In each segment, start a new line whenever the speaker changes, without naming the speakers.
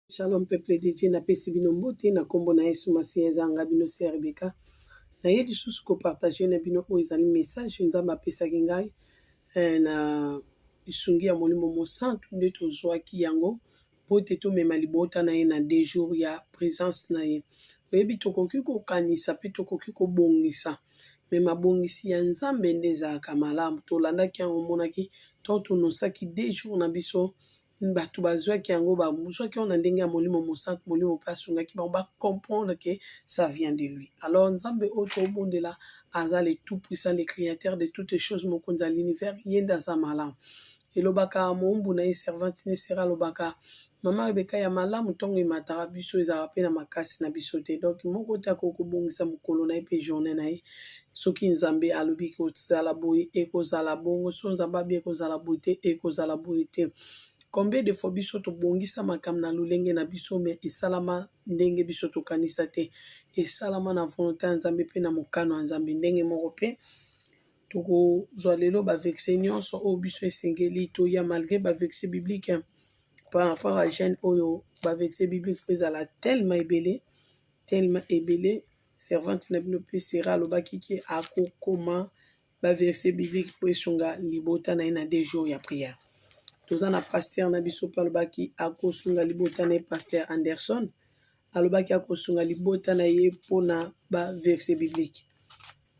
Shalom peuple de Dieu, napesi bino mbote na kombo na Yesu Masiya eza nga bino se Rebecca. Na ye lisusu ko partager na bino oyo ezali message Nzambe apesaki ngai eh, na lisungi ya Molimo Mosantu nde tozwaki yango mpo ete tomema libota na ye na deux jours ya presence na ye. Oyebi tokoki kokanisa mpe tokoki kobongisa me mabongisi ya Nzambe nde ezalaka malamu. Tolandaki yango, omonaki, to tonosaki deux jours na biso Bato bazwaki yango, bazwaki yango na ndenge ya Molimo Mosantu. Molimo mpe asungaki bango ba comprendre que ça vient de lui. Alors Nzambe oyo tobondela aza le tout puissant, le créateur de toutes choses, mokonzi ya l'univers, ye nde aza malamu. Elobaka moumbu na ye servante ne sera alobaka mama rebeka ya malamu ntongo emataka biso ezalaka mpe na makasi na biso te donk moko te akoki kobongisa mokolo na ye mpe journée na ye soki nzambe alobi ekozala boye ekozala bongo so nzambe abi ekozala boye te ekozala boye te combien de fois biso tobongisa makambo na lolenge na biso me esalama ndenge biso tokanisa te esalama na volonté ya nzambe mpe na mokano ya nzambe ndenge moko mpe tokozwa lelo bavexe nyonso oyo biso esengeli toya malgré bavexe biblique par rapport à jeune oyo bavexe biblique fo ezala tellement ebele tellement ebele servante na bino mpe Sera alobaki ke akokoma ba verse biblique mpo esunga libota na ye na deux jours ya prière. Toza na pasteur na biso mpe alobaki akosunga libota na ye pasteur Anderson alobaki akosunga libota na ye mpo na ba verse biblique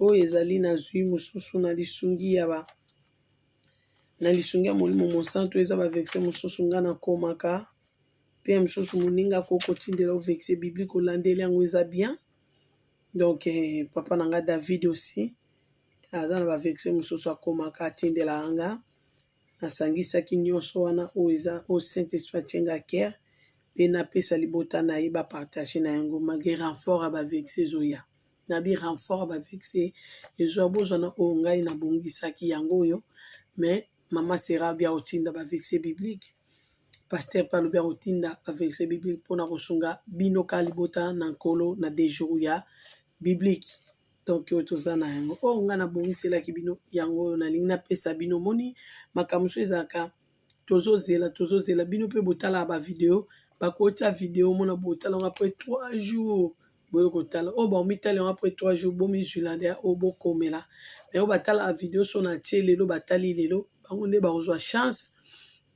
oyo ezali na zwi mosusu na lisungi ya ba na lisungi ya molimo mosantu eza ba verse mosusu ngai nakomaka pe ya misusu moninga ko kotindela o vexe biblique olandeli yango eza bien donc papa na nga David aussi aza na ba vexe mosusu akomaka atindelaka nga nasangisaki nyonso wana oyo eza oyo saint esprit atie nga kere pe napesa libota na ye ba partage na yango malgre renfort ya ba vexe ezoya na bi renfort ya ba vexe ezwa bozwa na oyo ngai nabongisaki yango oyo mais mama sera alobi akotinda baverse biblique paster mpe alobi akotinda baverse biblique mpona kosunga bino ka libota na nkolo na dejour ya biblique donc oyo toza na yango oyo oh, ngai nabongiselaki bino yango oyo nalingi napesa bino moni makambo so ezalaka tozozela tozozela bino mpe botalaka bavideo bakotia video omona botalaka mpe 3 jours boye kotala oyo oh, baomitali yango apres 3 jours bomizwila nde oyo oh, bokomela me oyo batalaka video so na tie lelo batali lelo bango nde bakozwa chance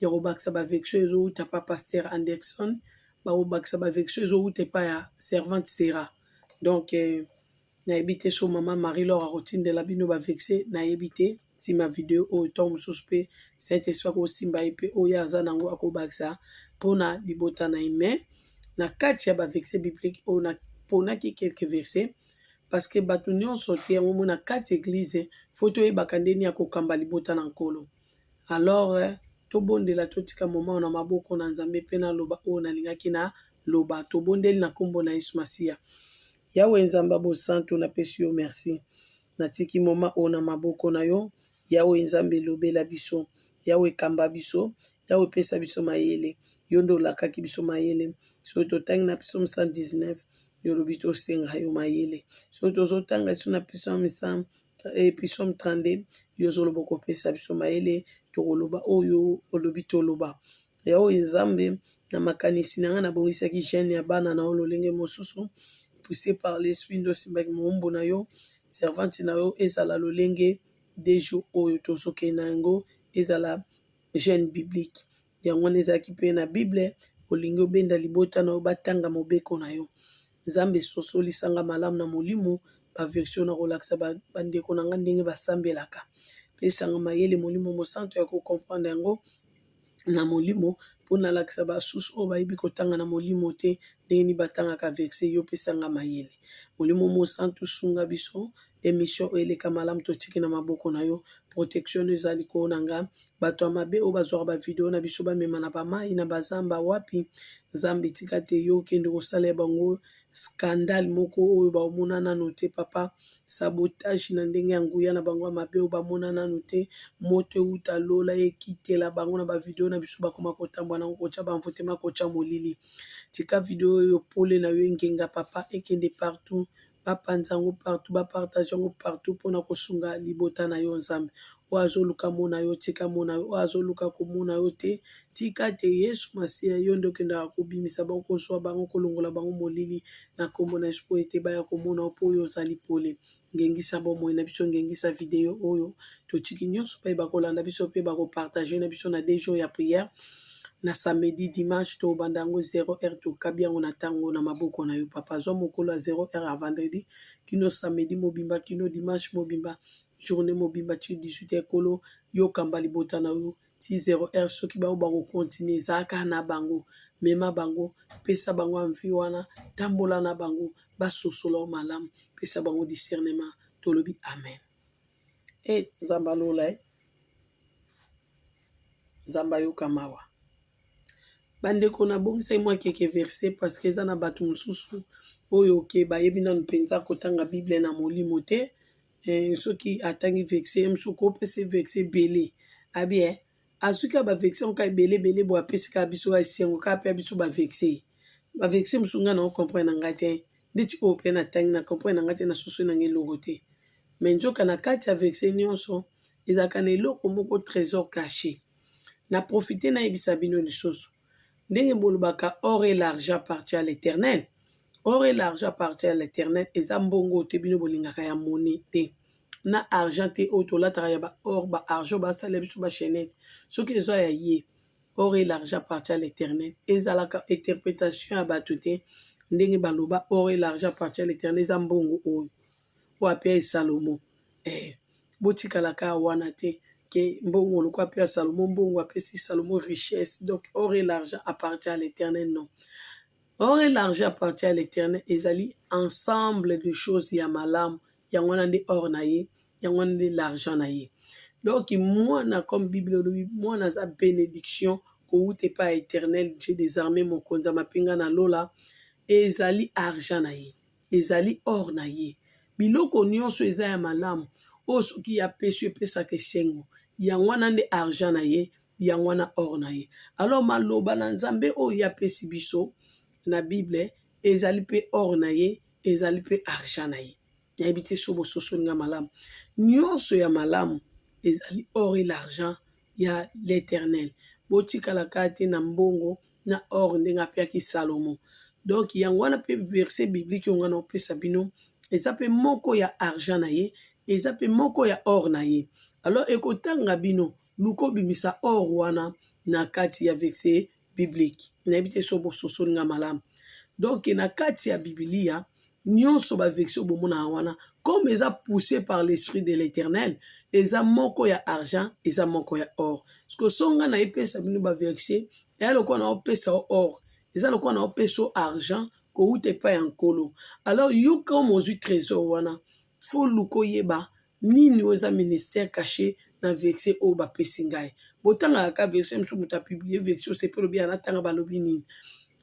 ya kobakisa bavexio ezowuta pa paster anderson bakobakisa bavexio ezowuta epa ya servante sera donc eh, nayebi te so mama marie lor akotindela bino bavexe nayebi te sima video oyo ntango mosusu mpe saint esprit akosimba ye mpe oyo aza na yango akobakisa mpona libota na ye mai na kati ya baverse biblique oyo naponaki quelque verse parce que bato nyonso te yango mona kati eglize fo toyebaka ndeni ya kokamba libota na nkolo alors eh, tobondela totika moma oyo na maboko na nzambe mpe naloba oyo nalingaki na loba tobondeli na nkombo na yesu masiya yawe nzambe bosantu napesi yo merci Natiki moment oyo na maboko na yo, Yahweh Nzambe lobela biso, Yahweh kamba biso, Yahweh pesa biso mayele, yo nde olakaki biso mayele, soki totangi na psaume 119, yo olobi tosenga yo mayele, soki tozotanga esu na psaume 100, eh, psaume 32, yo ozoloba okopesa biso mayele, tokoloba oyo olobi toloba. Yawe Nzambe, na makanisi na ngai nabongisaki gene ya bana na yo lolenge mosusu, pousse par l'esprit nde osimbaki moumbu na yo, servante na yo, ezala lolenge de jour oyo tozokende na yango, ezala gene biblique. Yango wana ezalaki mpe na Bible, olingi obenda libota na yo batanga mobeko na yo. Nzambe sosolisa nga malamu na molimo, ba version nakolakisa bandeko na nga ndenge basambelaka. Pesa nga mayele Molimo Mosantu ya ko comprendre yango, na molimo mpo nalakisa basusu oyo bayebi kotanga na molimo te ndenge nini batangaka verse yo pesanga mayele molimo mosantu sunga biso emission oyo eleka malamu totiki na maboko na yo protection no eza likolo na nga bato ya mabe oyo bazwaka bavideo na biso bamema na bamai na bazamba wapi nzambe tika te yo okende kosala ya bango scandale moko oyo bamona nano te papa sabotage na ndenge ya nguya na bango ya mabe oyo bamona nano te moto euta lola ekitela bango na ba video na biso bakoma kotambwa na yango kotya banvutema kotya molili tika video oyo pole na yo engenga papa ekende partout bapanza yango partout bapartage yango partout mpona kosunga libota na yo nzambe oyo azoluka mona yo tika mona yo oyo azoluka komona yo te Tika ete Yesu Masiya, yo nde okendaka kobimisa bango, kozwa bango, kolongola bango molili na Nkombo na Yesu, mpo ete baya komona yo, mpo yo ozali pole. Ngengisa bomoi na biso, ngengisa video oyo. Totiki nyonso baye bakolanda biso mpe bakopartage na biso na deux jours ya prière na samedi dimanche tobanda yango 0 heure tokabi yango na ntango na maboko na yo papa zwa mokolo ya 0 heure ya vendredi kino samedi mobimba kino dimanche mobimba journée mobimba ti 18 ekolo yokamba libota na yo ti 0 heure soki bango bakokontinue ezala kaka na bango mema bango pesa bango anvi wana tambola na bango basosola o malamu pesa bango discernement tolobi amen e eh, nzambe alola e nzambe ayoka mawa bandeko nabongisaki mwa keke verse parce que eza na bato mosusu oyo oke bayebi nanu mpenza kotanga bible na molimo te eh, soki atangi vexe ye mosusu kopesa ye vexe ebele abi eh, azwi kaka bavexe yango kaka ebele ebele bo apesi kaka biso kaka esengo kaka mpe ya biso bavexe bavexe mosusu ngai na ocomprene na ngai te ndeti oyo mpe natangi na comprene na ngai te na soso na ngai eloko te me nzoka na kati ya vexe nyonso ezalaka na eloko moko trésor caché na profite nayebisa bino lisusu ndenge bolobaka or et l'argent appartient à l'Eternel or et l'argent appartient à l'Eternel eza mbongo oyo te bino bolingaka ya monnaie te na argent te oyo tolataka ya ba or ba argent basalela biso ba chaînette soki eza ya ye or et l'argent appartient à l'Eternel ezalaka interprétation ya bato te ndenge baloba or et l'argent appartient à l'Eternel eza mbongo oyo oyo apiaye Salomon eh botikala ka wana te ke mbongo loko apia Salomon mbongo apesi Salomon richesse donc or et l'argent appartient à l'éternel non or et l'argent appartient à l'éternel ezali ensemble de choses ya malamu yango wana nde or na ye yango wana nde l'argent na ye donc mwana comme bible olobi mwana aza bénédiction kowuta epai ya éternel dieu des armées mokonzi ya mapinga na lola ezali argent na ye ezali or na ye. Biloko nionso eza ya malamu oyo soki ye apesi yo epesaka esengo yango wana nde argent na ye yango wana or na ye. Alors maloba na Nzambe oyo ye apesi biso na bible ezali pe or na ye ezali pe argent na ye. Nayebi te soki bososoli nga malamu. Nionso ya malamu ezali or et l'argent ya l'eternel. Botikala kaka te na mbongo. na or ndenge apiaki salomo donc yango wana mpe verset biblique oyo ngai naopesa bino eza mpe moko ya argent na ye eza mpe moko ya or na ye alors ekotanga bino luka obimisa or wana na kati ya verset biblique nayebi te so bososoli ngai malamu donc na kati ya bibilia nionso ba vexe oyo bomonaka wana comme eza pousse par l'esprit de l'eternel eza moko ya argent eza moko ya or siko so nga na epesa bino ba vexe eya lokola na opesa o or eza lokola na opesa o argent kowuta epai ya nkolo alors yo comme ozwi trésor wana fo luka oyeba Nini oyo eza ministère cache na verse oyo ba pesi ngai? Bo tangaka ka version mosusu moto a publie verse oyo sepe olobi ya na tanga ba lobi nini.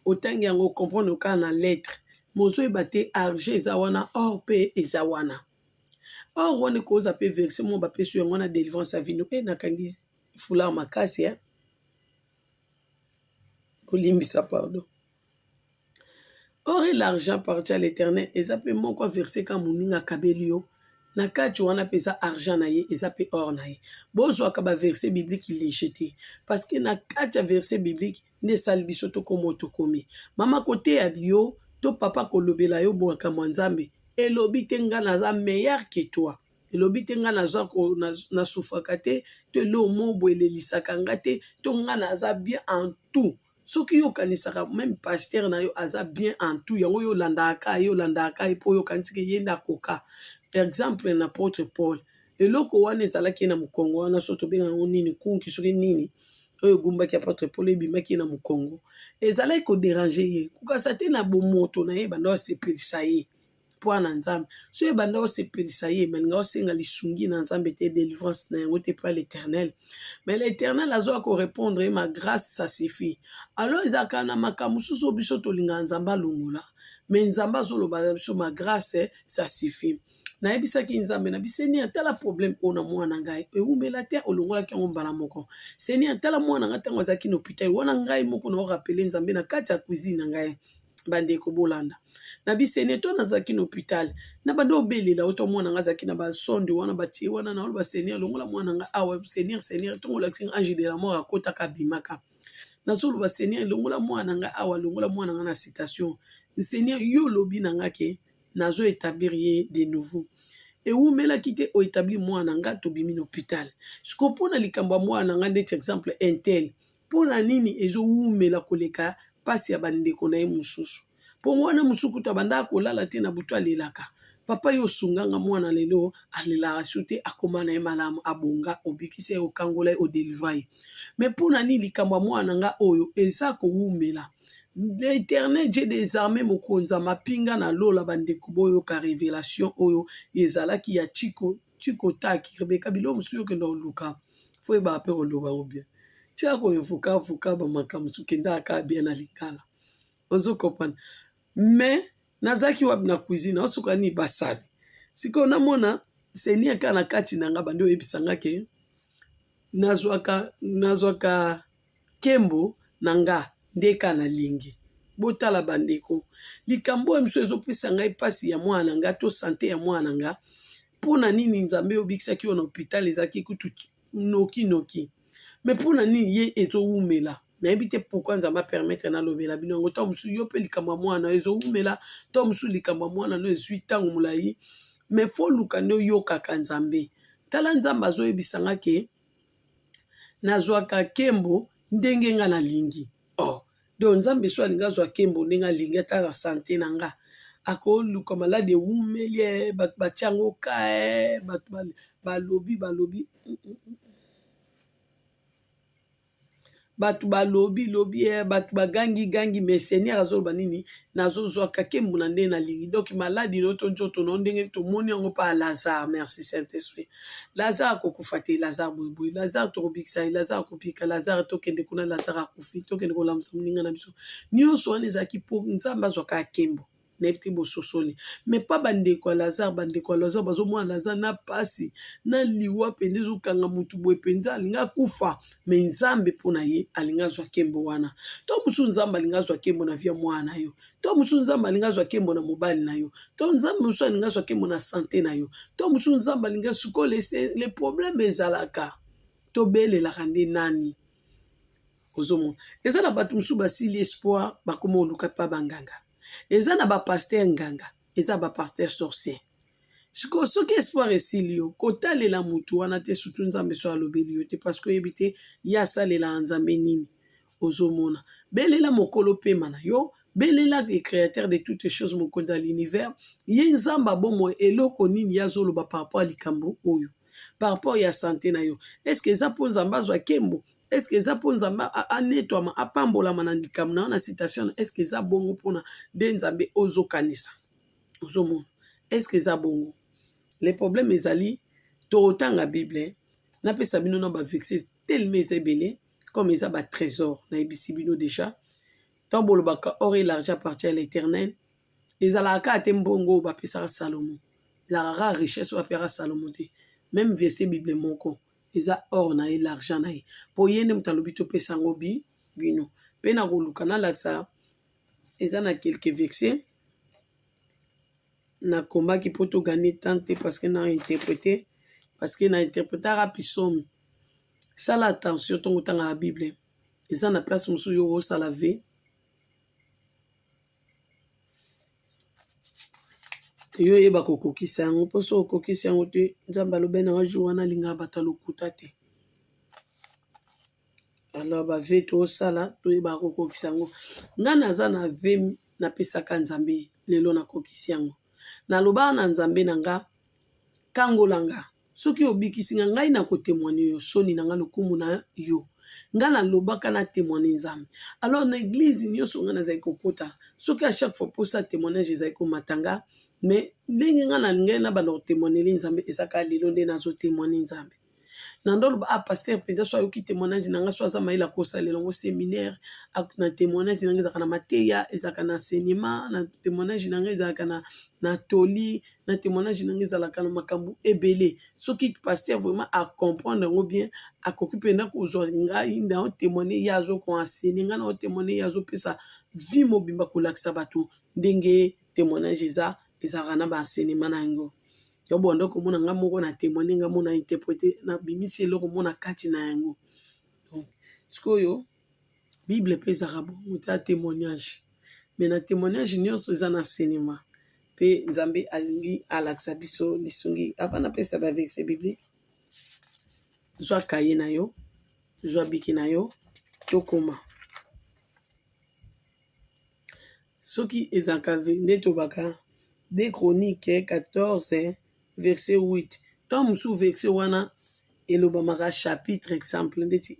Otangi yango o comprendre ka na lettre mais ozo yeba te argent eza wana or pe eza wana. Or wana eko oza pe verse moko ba pesi yango na delivrance ya vino et na kangi foulard makasi hein. Bo limbisa pardon. or et l'argent appartient à l'Eternel eza pe moko verset kaka moninga akabeli yo na kati wana mpe eza argent na ye eza mpe or na ye bozwaka ba verset biblique lege te parce que na kati ya verset biblique nde esali biso tokoma oyo tokomi mama koteya yo to papa kolobela yo makambo ya nzambe elobi te ngai naza meilleur que toi elobi te ngai naza na sufraka te to eloo mobo elelisaka ngai te to ngai naza bien en tout soki yo okanisaka meme pasteur na yo aza bien en tout yango yo olandaka ye olandaka ye mpo yo okanisi ke ye nde akoka par exemple na apôtre paul eloko wana ezalaki ye na mokongo wana so tobenga yango nini kunki soki nini oyo egumbaki apôtre paul ebimaki ye na mokongo ezalaki koderange ye kukasa te na bomoto na ye banda osepelisa ye mpo na nzambe so ebanda osepelisa ye malinga osenga lisungi na nzambe te delivrance na yango te mpo ya l'éternel mais l'éternel azoya korépondre ye ma grâce ça suffit alors ezalaka na makambo mosusu oyo biso tolingaka nzambe alongola mais nzambe azoloba na biso ma grâce ça suffit nayebisaki nzambe na bisenia tala problème oyo na mwana ngai ewumela te olongolaki yango mbala moko senia tala mwana ngai ntango azalaki na hôpital wana ngai moko na orapele nzambe na kati ya cuisine na ngai bandeko bolanda na biseneto nazalaki na hopitale na banda obelela oto mwana nga azalaki na basonde wana batie wana na oloba seigneur longola mwana nga awa ah seigneur seigneur ntongo olakisi nga ange de la mort akotaka abimaka nazoloba seigneur longola mwana nga awa ah longola mwana nga na citation seigneur yo olobi na nga ke nazo établir ye de nouveau ewumelaki te oetabli mwana nga tobimi na hopitale siko mpo na likambo ya mwana nga ndeti exemple intel Mpo na nini ezowumela koleka mpasi ya bandeko na ye mosusu? Mpo wana mosusu kutu abandaka kolala te na butu alelaka. Papa yo osunga nga mwana lelo alelaka su te akoma na ye malamu abonga obikisa ye okangola ye odelivra ye. Mais mpo na nini likambo ya mwana na nga oyo eza kowumela? L'Eternel Dieu des armées mokonzi ya mapinga na lola bandeko boyoka revelation oyo ezalaki ya Chico tu kotaki rebeka biloko mosusu yo okenda koluka fo oyebaka mpe koloba yango bien tia koevoka avoka bamakambo mosusu kendaka kaka bien na lingala ozo comprendre mais nazalaki wapi na cuisine aosuka nini basali sikoyo namona seigneur kaka na kati na nga bandi oyebisa nga ke nazwaka nazwaka Kembo na nga nde ka na lingi. Botala ba ndeko likambo oyo mosusu ezo pesa ngai pasi ya mwana na nga to sante ya mwana na nga pona nini nzambe yo obikisaki yo na hopital ezalaki kutu noki noki me pona nini ye ezo wumela nayebi te pourkui nzambe apermettre nalobela bino yango ntango mosusu yo mpe likambo ya mwana ezo wumela ntango mosusu likambo ya mwana no ezwi ntango molai me foluka nde oyokaka nzambe tala nzambe azoyebisa nga ke nazwaka nkembo ndenge nga nalingi oh. donc nzambe so alingi azwa nkembo ndenge alingi ata na sante na nga akoluka maladi ewumeli eh, bato batyango ka eh, bato balobi balobi mm -mm. mm. Batu ba lobi lobi eh batu ba gangi gangi mais seigneur azo loba nini nazo zwa kakembo na ndenge na lingi donc maladi no to nzoto no ndenge to moni yango pa Lazare merci saint esprit Lazare ako kufa te Lazare boye boye Lazare toko bikisa ye Lazare ako bika Lazare to kende kuna Lazare akufi to kende ko lamusa moninga na biso nionso wana ezalaki po nzambe azwa kakembo neti bososoli mais pas ba ndeko ya Lazare ba ndeko ya Lazare bazo mona Lazare na pasi na liwa penza ezo kanga mutu boye penza alingi akufa mais Nzambe pona ye alingi azwa kembo wana to mususu Nzambe alingi azwa kembo na vie ya mwana na yo to mususu Nzambe alingi azwa kembo na mobali na yo to Nzambe mususu alingi azwa kembo na sante na yo to mususu Nzambe alingi sikoyo le problème ezalaka tobelelaka nde nani ozomona eza na bato mosusu basili espoir bakoma oluka pa banganga eza na ba pasteur nganga eza ba pasteur sorcier sikoyo soki espoir esili yo kotalela motu wana te surtout nzambe so alobeli yo te parce que oyebi te ye asalelaka nzambe nini ozomona belela mokolo pema na yo belela le créateur de toutes choses mokonzi ya l'univers ye nzambe abomoi eloko nini ye azoloba par rapport ya likambo oyo par rapport ya sante na yo eske eza mpo nzambe azwa kembo eske eza mpo nzambe anetwama apambolama na likambo na yo na citation eske eza bongo mpona nde nzambe ozokanisa ozomona eske eza bongo le problème ezali totanga bible napesa bino na bavexe telema eza ebele comme eza batrésor nayebisi bino déjà ntango bolobaka or et l'argent appartient à l'éternel ezalaka kaka te mbongo oyo bapesaka salomo ezalaka kaka richesse oyo apesaka salomo te meme verset bible moko eza or na ye l'argent na ye mpo ye nde moto alobi topesa yango bi bino mpe na koluka nalakisa eza na quelque verset nakomaki mpo toganie temps te parce que na interprete parce que na interpretaka pisome sala attention ntongo otangaka bible eza na place mosusu yo osala vie yo oyeba kokokisa yango mpo soki okokisi yango te nzambe alobi na wajour wana alingaka bato ya lokuta te alors bave tosala toyeba kokokisa yango ngai naza na ve napesaka nzambe lelo nakokisi yango nalobaka na nzambe na nga kangola nga Soki obikisi nga, ngai na ko temoigner yo soni na nga lokumu na yo. Nga na lobaka na temoigner Nzambe. Alors na eglise nionso nga na zali ko kota, soki a chaque fois posa ya temoignage ezali ko mata nga, mais ndenge nga na lingaki na banda ko temoigneli Nzambe eza kaka lelo nde nazo temoigner Nzambe. Na nde oloba ah pasteur penza soki ayoki temoignage na nga soki aza mayele ako salela ngo seminaire, na temoignage na nga ezalaka na mateya, ezalaka na enseignement, na temoignage na nga ezalaka na toli, na témoignage na ngai ezalaka na makambo ebele soki paster vraiment acomprendre yango bien akoki mpenza kozwa ngai na otémoigne ye azo koensene ngai na otémoigne ye azopesa vie mobimba kolakisa bato ndenge témoignage eza ezalaka na baensenema na yango yo bonda komona ngai moko na témoigne ngai mona interprete nabimisi eloko mona kati na yango donc sikoyo Bible mpe ezalaka bongo te ya temoignage me na temoignage nyonso eza na enseignement mpe Nzambe alingi alakisa biso lisungi avant napesa ba verset biblique zwa kaye na yo zwa biki na yo tokoma soki ezalaka nde tobaka de chronique 14 verset 8 ntango mosusu verset wana elobamaka chapitre exemple ndeti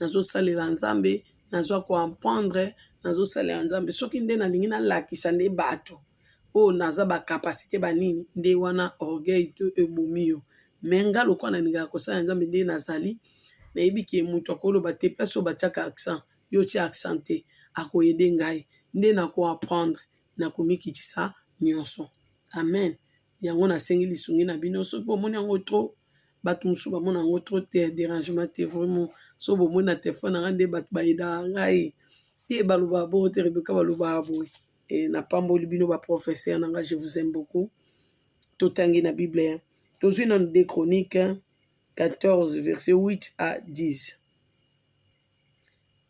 nazosalela nzambe nazwa koampendre nazosalela nzambe soki nde nalingi nalakisa nde bato oyo naza bacapacité banini nde wana orgueil to ebomi yo me nga lokola nalingaka kosala nzambe nde nazali nayebi ke moto akoloba te place oyo batiaka accent yo tia accent te akoyede ngai nde nakoaprendre nakomikitisa nyonso amen yango nasengi lisungi na bino soki bomoni yango trop bato mosusu bamona yango trop te derangement te vraiment so bomoni na telefone nanga nde bato bayedaka ngai te balobaka bongo te rebeka balobaka boye e, napamboli bino baprofesseur na ngai je vous aime beaucoup totangi na bible tozwi nano de chronique 14 verset 8 à 10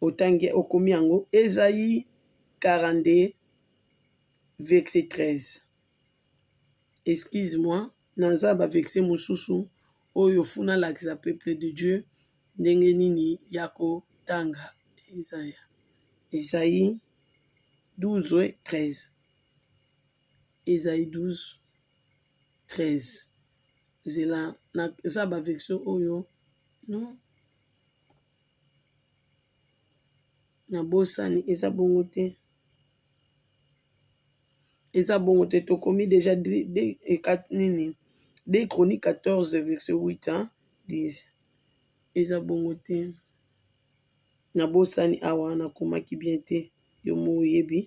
otangi okomi yango ezai 42 verset 13 excuse moi naza ba vexe mosusu oyo funa alakisa peuple de Dieu ndenge nini ya kotanga Isaya Isaïe 12 13 Isaïe 12 13 zela naza ba vexe oyo non na bosani eza bongo te eza bongo te tokomi deja nini de croni 14 virse 8 a 10 eza bongo te na bosani awa na komaki bien te yo mo oyebi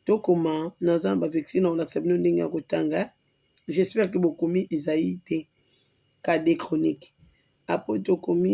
tokoma naza na bavesi na kolakisa bino ndenge ya kotanga jespere ke bokomi ezai te ka de chronique apo tokomi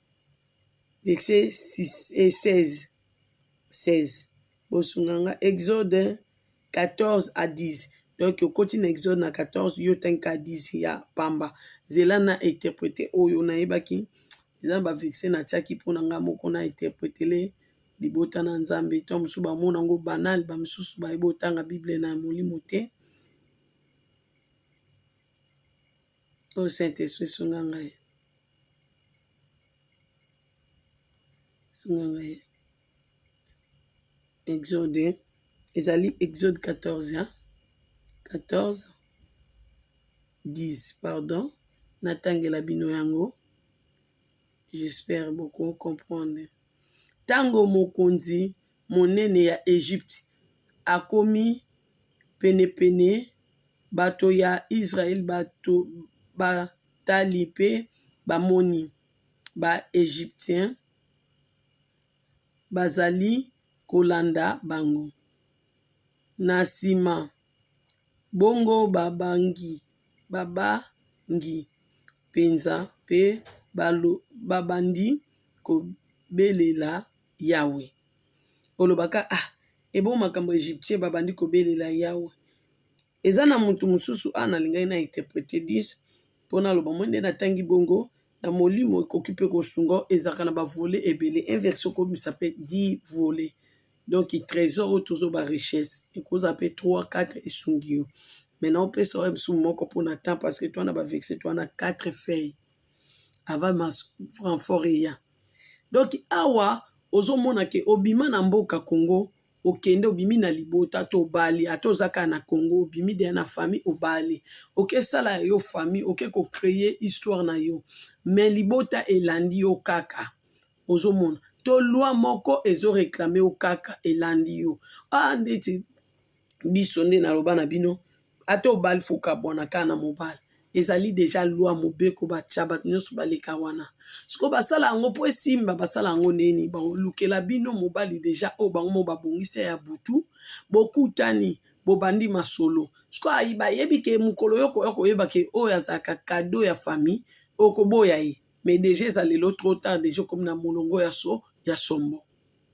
verset 6 et 16 16 bosunga nga exode 14 à 10 donc okoti na exode na 14 yo tanka 10 ya pamba zela na interprete oyo nayebaki eza na baverse natiaki mpo na nga moko na interpretele libota na nzambe to mosusu bamona yango banal bamosusu bayebi otanga bible na molimo te Oh Saint-Esprit, sunga ngai. Sunga ngai. Exode. Ezali Exode 14, hein? 14, 10, pardon. Natangela bino yango. J'espère beaucoup comprendre. Tango mokonzi monene ya Egypte akomi penepene, bato ya Israel batali pe bamoni ba-Egyptien bazali kolanda bango. Na sima, bongo babangi, babangi penza pe babandi kobelela Yawe. olobaka ah ebongo makambo ya egyptien babandi kobelela yawe eza na motu mosusu a ah, nalingaki na interprete dis mpo naloba moi nde natangi bongo na molimo ekoki mpe kosunga ezalaka na bavole ebele inverse okomisa mpe di vole donc trésor oyo tozo ba richesse ekozala mpe 3 4 esungi yo maintenant opesa oyo mosusu moko mpo na temps parce que twana bavexe twana 4 feuille avant ma renfort eya donc awa ozo mona ke obima na mboka Congo okende obimi na libota ata obali ata oza kaka na Congo obimi deja na famille obali oke sala ya yo famille oke ko creer histoire na yo mais libota elandi yo kaka ozo mona to loi moko ezo reclamer yo kaka elandi yo awa ndeti biso nde naloba na bino ata obali faut okabwana kaka na mobali ezali deja loi mobeko batia bato nyonso baleka wana sikoyo basala yango mpo esimba basala yango neni balukela bino mobali deja oyo bango mo babongisa ya butu bokutani bobandi masolo sikoyo bayebi ke mokolo yo koya koyeba ke oyo azalaka kado ya famille okoboya ye mais deja eza lelo trop tard deja okomi na molongo ya so ya sombo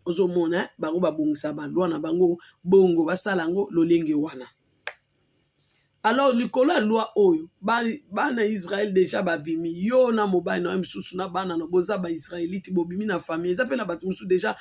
ozomona bango babongisa balwa na bango bongo basala yango lolenge wana alors likolo ya lwa oyo bana israele deja babimi yo na mobali na yo mosusu na bana na boza baisraelite bobimi na famille eza mpe na bato mosusu deja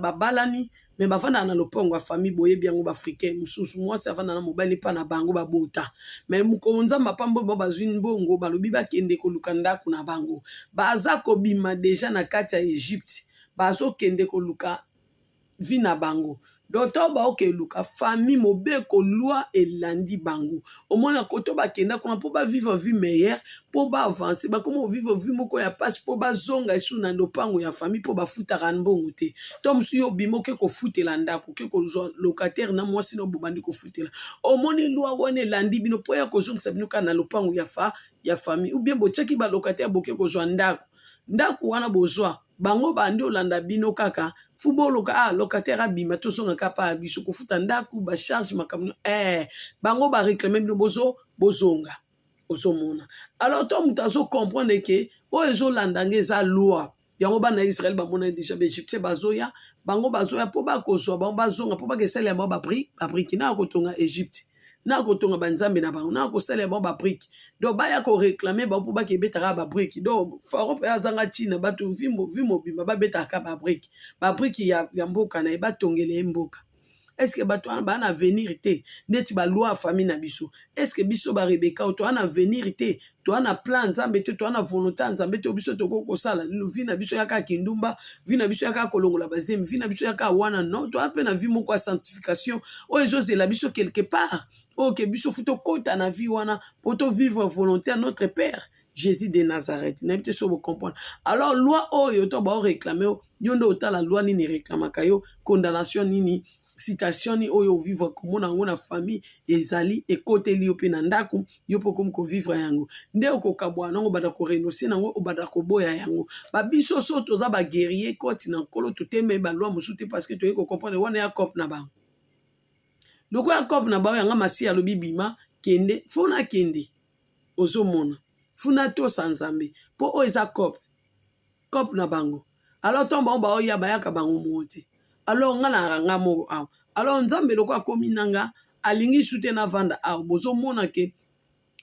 babalani me bafandaka na lopango ya famille boyebi yango baafricain mosusu mwasi afanda na mobali mpa na bango babota me mokolo nzambe apambo ba bazwi mbongo balobi bakende koluka ndako na bango baza kobima deja na kati ya egypte bazokende koluka vie na bango donc ntango baoke eluka famille mobeko loi elandi bango omona koto bakenda kuna mpo bavivre vie meilleure mpo baavance bakoma kovivre vie moko ya mpasi mpo bazonga esu na lopango ya famille mpo bafutaka mbongo te to mosusu yo obima oke kofutela ndako oke kozwa locataire na mwasi na bobandi kofutela omoni loi wana elandi bino mpo ya kozongisa bino kaka na lopango ya fa ya famille ou bien botyaki balocataire boke kozwa ndako ndako wana bozwa bango bandi olanda bino kaka fu boloka ah locataire abima tozonga ka pa biso kofuta ndako ba charge makambo eh bango ba réclame bino bozo bozonga ozomona alors to moto azocomprendre ke oyo ezolanda nge eza loi yango bana ya israele bamonani deja baegyptien bazoya bango bazoya mpo bakozwa bango bazonga mpo bakesalela bango babriki na ya kotonga egypte na kotonga banzambe na bango na kosalela bango babrike donc baya koreklame bango mpo bake ebetaka babrike donc faro mpe azanga ntina bato vi mobimba babetaka babrike babrike ya, ya mboka na ye batongela ye mboka eske bato wana baa na avenir te ndeti balwa ya famille na biso eske biso barebeka oyo toa na avenir te toa na plan ya nzambe te toa na volonté ya nzambe te biso tokoki kosala nino vi na biso yaka kindumba vi na biso yaka kolongola bazemi vi na biso yaka wana non toa mpe na vi moko ya sanctification oyo ezozela biso quelque part oyo ke biso fu tokɔta na vi wana mpo tovivre volonté ya notre père jésus de nazareth nayebi te so bocomprendre alors loi oyo to baoreklame yo nde otala loi nini ereklamaka yo condamnation nini situation oyo ovivre komona yango na famille ezali ekoteli yo mpe na ndako yo mpe okomi kovivre yango nde okokabwana yango obanda korenonse na yango obanda koboya yango babiso so toza baguerrier koti na nkolo toteme balwa mosusu te parce que toyei kocomprendre wana ya cope na bango lokola ya cope na bango yanga masi alobi bima kende fona kende ozomona funa tosa nzambe mpo oyo eza cope cop na bango alors ntango bango baoya bayaka bango moko te alors nga nayaka nga moko awa alors nzambe loko akomi na nga alingi su te navanda awa bozomona ke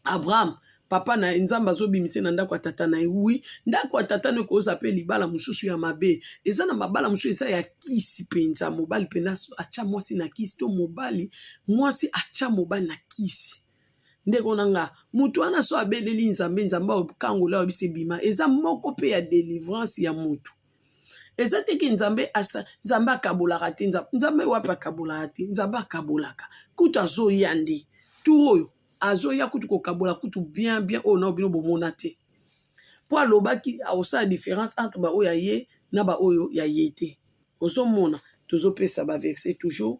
abraham papa na ye nzambe azobimisa na ndako ya tata na ye wi ndako ya tata na ye koza mpe libala mosusu ya mabe eza na mabala mosusu eza ya kisi mpenza mobali mpenza atya mwasi na kisi to mobali mwasi atya mobali na kisi ndeko na nga moto wana so abeleli nzambe nzambe akangola oyo biso ebima eza moko mpe ya delivrance ya moto eza te ke nzambe asa nzambe akabolaka te nzambe wapi akabolaka te nzambe akabolaka kutu azoya nde tour oyo azoya kutu kokabola kutu bien bien oyo nao bino bomona te mpo alobaki akosala différence entre baoyo ya ye na baoyo ya ye te ozomona tozopesa baverse toujours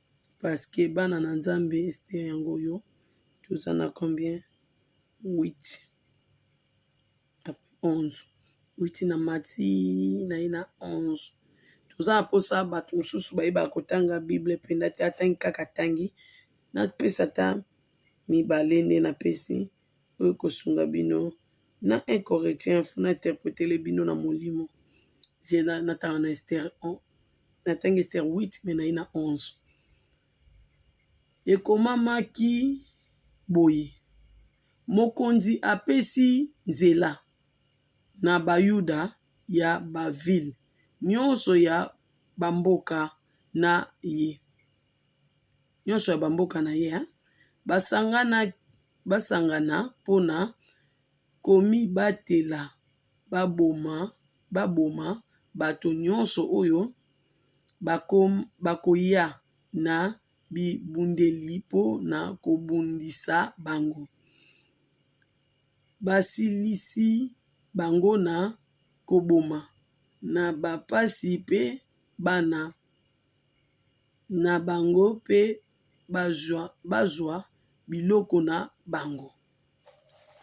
parce que bana na nzambe Esther yango oyo toza na combien huit après onze huit na mati na ye na onze toza na mposa bato mosusu bayebaka kotanga bible mpenza te atangi kaka atangi napesa ata mibale nde napesi oyo ekosunga bino na un corretien fona interpretele bino na molimo je natanga na Esther. na tangi ester 8 me naye na 11 ekomamaki boye mokonzi apesi nzela na bayuda ya bavile nyonso ya bamboka na ye nyonso ya bamboka na ye basangana basangana mpona komibatela baboma bato nyonso oyo bakoya na bibundeli mpo na kobundisa bango, basilisi bango na koboma, na bampasi mpe bana na bango mpe bazwa biloko na bango.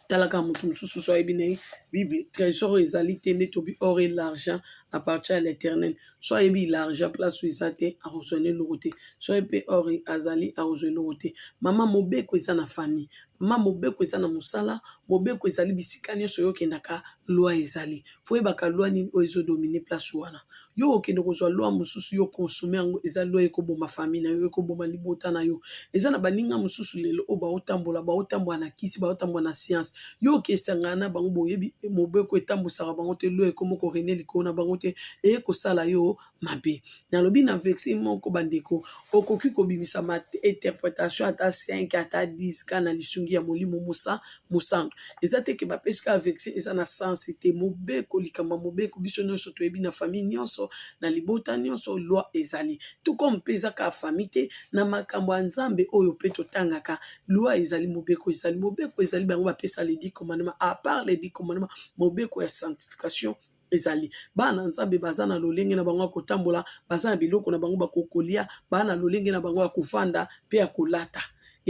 talaka moto mosusu so ayebi na ye bible trésor oyo ezali te nde tobi or et l'argent à partir ya l'éternel so ayebi l'argent place oyo eza te akozwa na eloko te so ayebi mpe or azali akozwa eloko te mama mobeko eza na famille mama mobeko eza na mosala mobeko ezali bisika nyonso oyo okendaka loi ezali faut oyebaka loi nini oyo ezo domine place wana yo okende kozwa loi mosusu yo consomme yango eza loi ekoboma famille na yo ekoboma libota na yo eza na baninga mosusu lelo oyo baotambola baotambola na kisi baotambola na science yo okesangana na bango boyebi mobeko etambwisaka bango te loi ekomoko rene likolo na bango te eye kosala yo mabe nalobi na vexe moko bandeko okoki kobimisa ma interpretation ata 5 ata 10 ka na lisungi ya molimo mosa mosantu eza te ke bapesi ka vexe eza na sense te mobeko likambo ya mobeko biso nyonso toyebi na famille nyonso na libota nyonso loi ezali tout comme mpe eza ka famille te na makambo ya nzambe oyo mpe totangaka loi ezali mobeko ezali mobeko ezali bango bapesa ledi commandement à part ledi commandement mobeko ya sanctification ezali bana nzambe baza na lolenge na bango ya kotambola baza na biloko na bango bakokolia baa na lolenge na bango ya kofanda mpe ya kolata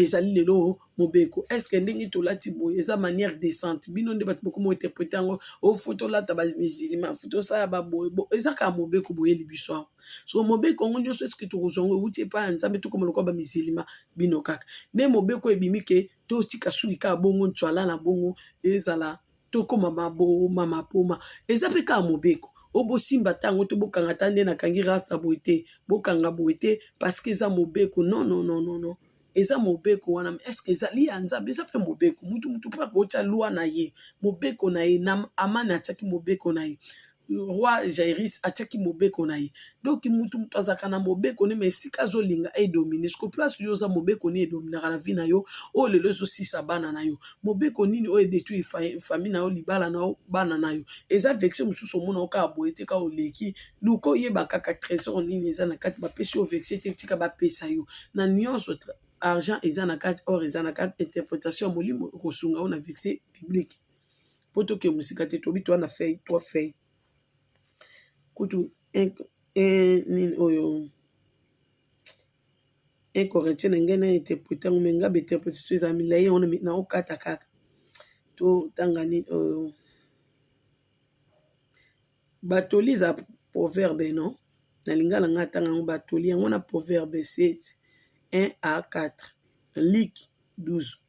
ezali lelo mobeko estce ndenge tolati boye eza manière décente bino nde bato bokoma interprete yango ofo tolata bamusilima fo tosala baboye eza kaka mobeko boyeli biso yango so mobeko yango nyonso estce tokozwa yango euti epai ya nzambe tokoma lokola bamusilima bino kaka nde mobeko ebimi ke totika suki kaka bongo ncwala na bongo ezala tokoma maboma mapoma eza mpe kaka mobeko o bosimba ntango to bokanga ta nde nakangi rasta boye te bokanga boye te parceke eza mobeko non non non non non eza mobeko wana eske ezali ya nzambe eza mpe mobeko mutu mutu mpe akotya lwa na ye mobeko na ye na amani atyaki mobeko na ye roi jairis atiaki mobeko na ye donc mutu moto azalaka na mobeko ne ma esika azolinga edomine siko place yo oza mobeko nini edominaka na vi na yo oyo lelo ezosisa bana na yo mobeko nini oyo edetui fami na yo libala na yo bana na yo eza vexe mosusu omona yo kaka boye te kaka oleki luka oyeba kaka trésor nini eza na kati bapesi yo vexe te tika bapesa yo na nyonso argent eza na kati or eza na kati interpretation ya molimo ekosunga yo na vexe publique po toke mosika te tobi toa na feuille trois feuille kutu nini oyo un corinthien na ngai na interprete yango me ngai bainterpretation eza milai yango na okata kaka to tanga nini oyo batoli eza proverbe non na lingala ngai atanga yango batoli yango na proverbe 7 1 a 4 liki 12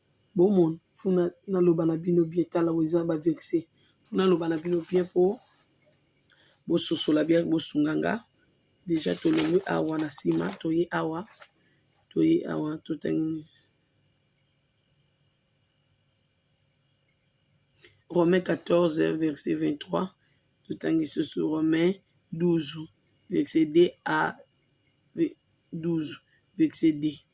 Bomon funa naloba na bino bien tala oyo eza ba vexe funa naloba na bino bien po bososola bien bosunga nga deja tolongwe awa na sima toye awa toye awa totangi nini Romain 14 verset 23 totangi susu Romain 12 verset 2 a 12 verset 2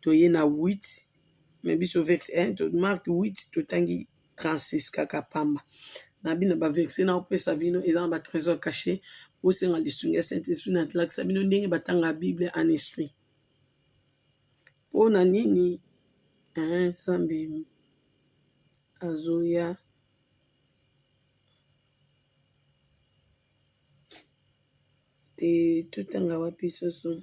toye na 8 mais biso verse 1 to marque 8 totangi 36 kaka pamba na bino ba verse na opesa bino eza na ba trésor caché bosenga lisungi ya saint esprit na lakisa bino ndenge batanga bible en esprit mpo na nini nzambe azoya te totanga wapi soso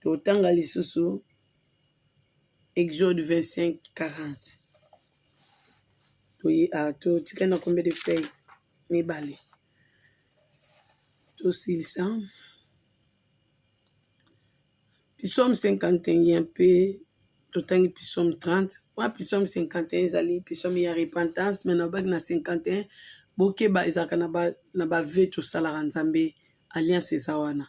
Totanga lisusu Exode 25, 40. Toye a ah, totika na combien de feuilles? Mibale. Tosilisa. Psaume 51 mpe totangi psaume 30. Wa psaume 51 ezali psaume ya repentance, mais na obaki na 51 bokeba ezalaka na ba, na ba vœux tosalaka Nzambe alliance eza wana.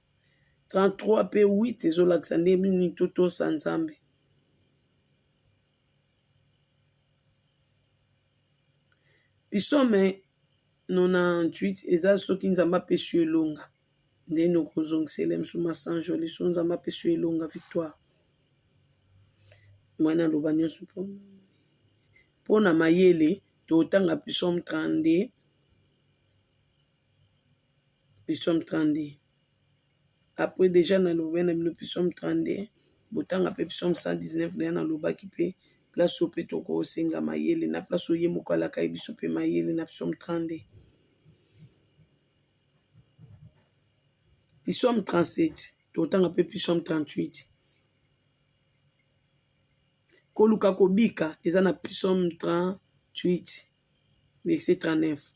33 pe 8 ezolakisa nde nini totosa Nzambe. Pisome 98 eza soki Nzambe apesi yo elonga nde nokozongisela biso masanjoli so Nzambe apesi yo elonga victoire. Mwana naloba nyonso mpo mpo na mayele totanga pisome 32 nous sommes 32 après dejà na lobela na bino nous sommes 32 botanga pe nous sommes 119 dejà na lobaki pe place oyo pe toko senga mayele na place oyo ye moko alakaki biso pe mayele na nous sommes 32 nous sommes 37 totanga pe nous sommes 38 koluka kobika eza na nous sommes 38 verset 39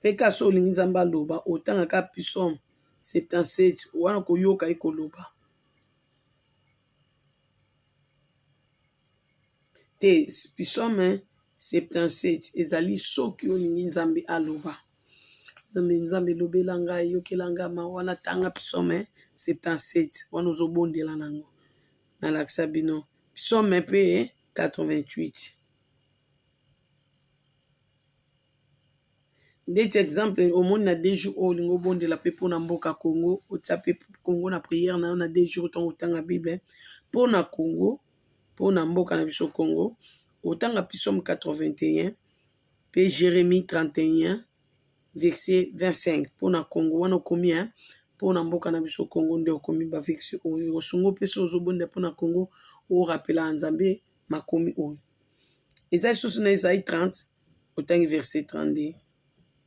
Pe ka so olingi nzambe aloba otanga ka psaume 77 wana okoyoka ye koloba te psaume 77 ezali soki olingi nzambe aloba nzambe nzambe elobela ngai eyokela ngai mawa na tanga psaume 77 wana ozobondela na yango nalakisa bino psaume pe 88 ndeti exemple omoni na dejou oyo olingi obondela mpe mpona mboka congo otia mpe congo na priere na yo na dejou ntango otanga bible mpona congo mpona mboka na biso congo otanga pisome 81 mpe jeremie 31 verse 25 mpona congo wana okomi ya mpona mboka na biso congo nde okomi baverse oyo osungo mpe so ozobondela mpona congo orapelaka nzambe makomi oyo eza lisusu na ezai 30 otangi verset 32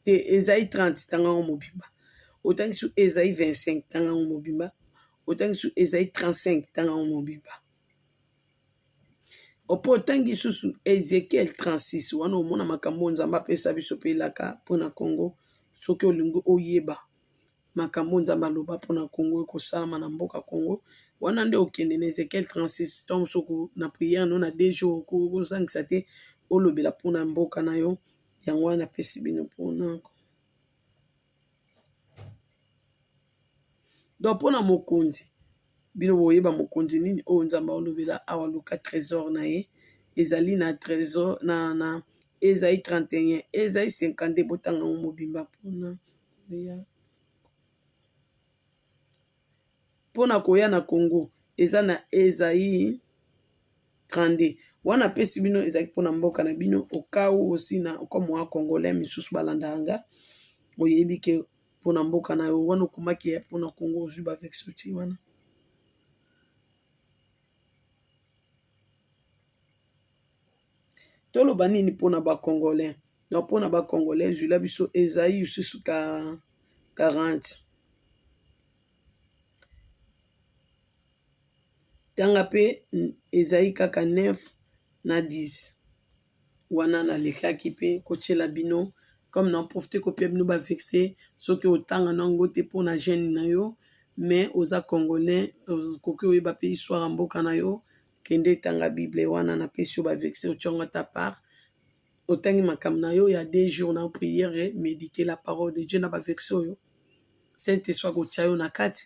te ezai 30 tanga yango mobimba otangi su ezai 25 tanga yango mobimba otangi su ezai 35 tanga yango mobimba opo otangi lisusu ezekiel 36 wana omona makambo oyo nzambe apesa biso mpe elaka mpo na congo soki olingi oyeba makambo oyo Nzambe aloba mpo na Congo ekosalama na mboka Congo wana nde okende na Ezekiel 36 ntango mosusu oku na prière no na deux jours okoki kozangisa te olobela mpo na mboka na yo yango wana napesi bino mpona donc mpo na mokonzi bino boyeba mokonzi nini oyo Nzambe aolobela awa luka trésor na ye ezali na trésor na na ezali 31 ezali 52 botanga yango mobimba mpona pona koya na congo eza na ezai 32 wana apesi bino ezali mpona mboka na bino okau osi na okomwa congolais misusu balandaka nga oyebi ke mpona mboka na yo wana okomaki ya mpona congo ozwi bavexoti wana Toloba nini pona ba congolais donc pona ba congolais zwi la biso ezayi lisusu ka 40 tanga pe ezayi kaka 9 na 10. wana na lekaki pe ko tiela bino comme na profite ko pia bino ba vexe soki otanga na ngo te pona jeune na yo mais oza congolais okoki oyeba pe histoire ya mboka na yo kende tanga bible wana na pesi yo ba vexe otia ngo ata part otangi makambo na yo ya deux jours na priere medite la parole de Dieu na ba vexe oyo saint esprit akotia yo na kati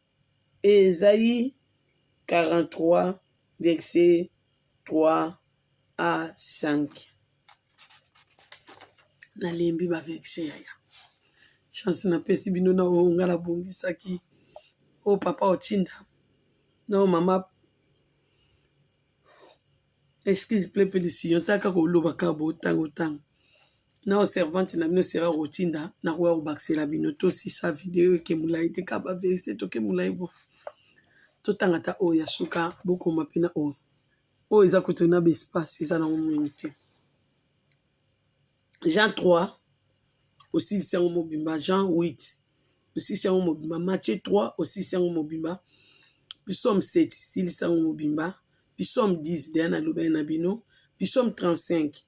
Esaïe 43, verset 3 à 5. Nalembi ba verset yaya. Chance napesi bino na oyo nga nabongisaki. Oyo papa otinda. Na oyo mama excuse plepe lisiyo taka koloba kabo tango tango. nao servante na bino sera kotinda nakoya kobakisela bino tosisa video eke molai te kaba verite toke molai bo totanga ta oyo ya suka bokoma mpe na oyo oyo eza kutu na baespace eza na omoni te jean 3 osilisi yango mobimba jean 8 osilisi yango mobimba mathieu 3 osilisi yango mobimba pisome 7 silisi yango mobimba pisome 10 deya nalobani na bino pisome 35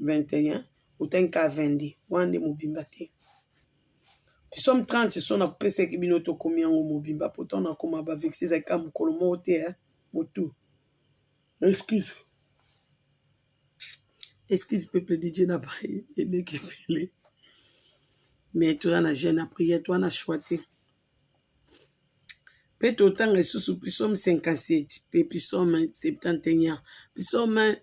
21 otani ka 22 wana nde mobimba te psaume 30 so nakopesaki bino tokomi yango mobimba mpo ntango nakoma bavexe ezalaki ka mokolo moko te ya motu excuse excuse peuple de dieu na baye eleki ebele mais toza na jeune ya prière toza na choix te mpe totanga lisusu psaume 57 mpe psaume 71 psaume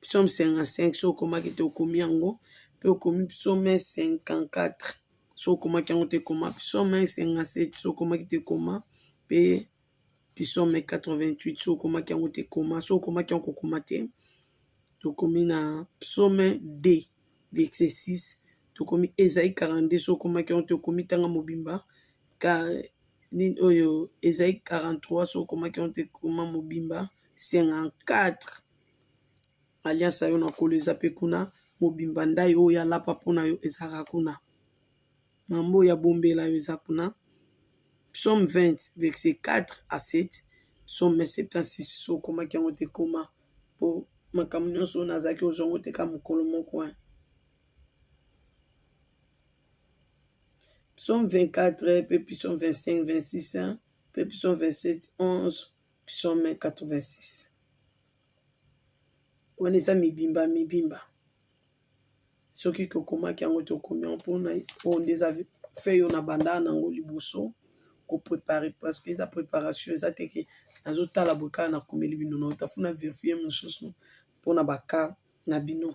psaume 55 soki okomaki te okomi yango mpe okomi psaume 54 soki okomaki yango te koma psaume 57 soki okomaki te koma mpe psaume 88 soki okomaki yango te koma soki okomaki yango kokoma te tokomi na psaume 2 verset 6 tokomi ezai 42 soki okomaki yango te okomi tanga mobimba nini oyo ezali 43 soki okomaki yango te koma mobimba 54 alliance na yo na kolo eza mpe kuna mobimba ndai oyo alapa mpo na yo ezalaka kuna mambo oyo abombela yo eza kuna psaume 20 verset 4 à 7 psaume 76 soki okomaki yango te koma mpo makambo nyonso oyo nazalaki ozwa yango te ka mokolo moko Psaume 24, pe psaume 25, 26, hein, pe psaume 27, 11, psaume 86. Wana eza mibimba mibimba. Soki tokomaki yango tokomi yango mpona oyo nde eza feuille oyo na banda nango liboso ko prepare parce que eza preparation eza te ke nazotala boye kaka nakomeli bino na otafuna verifie mosusu mpona baka na bino.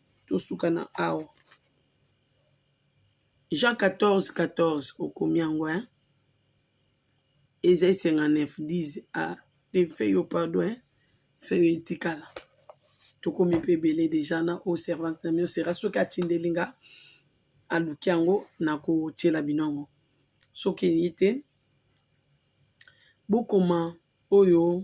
tosuka na awa jean 14 14 okomi yango hein ezai 59 10 a te fe yo pardon hein fe yo etikala tokomi mpe ebele deja na o servante na mio sera soki atindeli nga aluki yango nakotyela bino yango soki eyi te bokoma oyo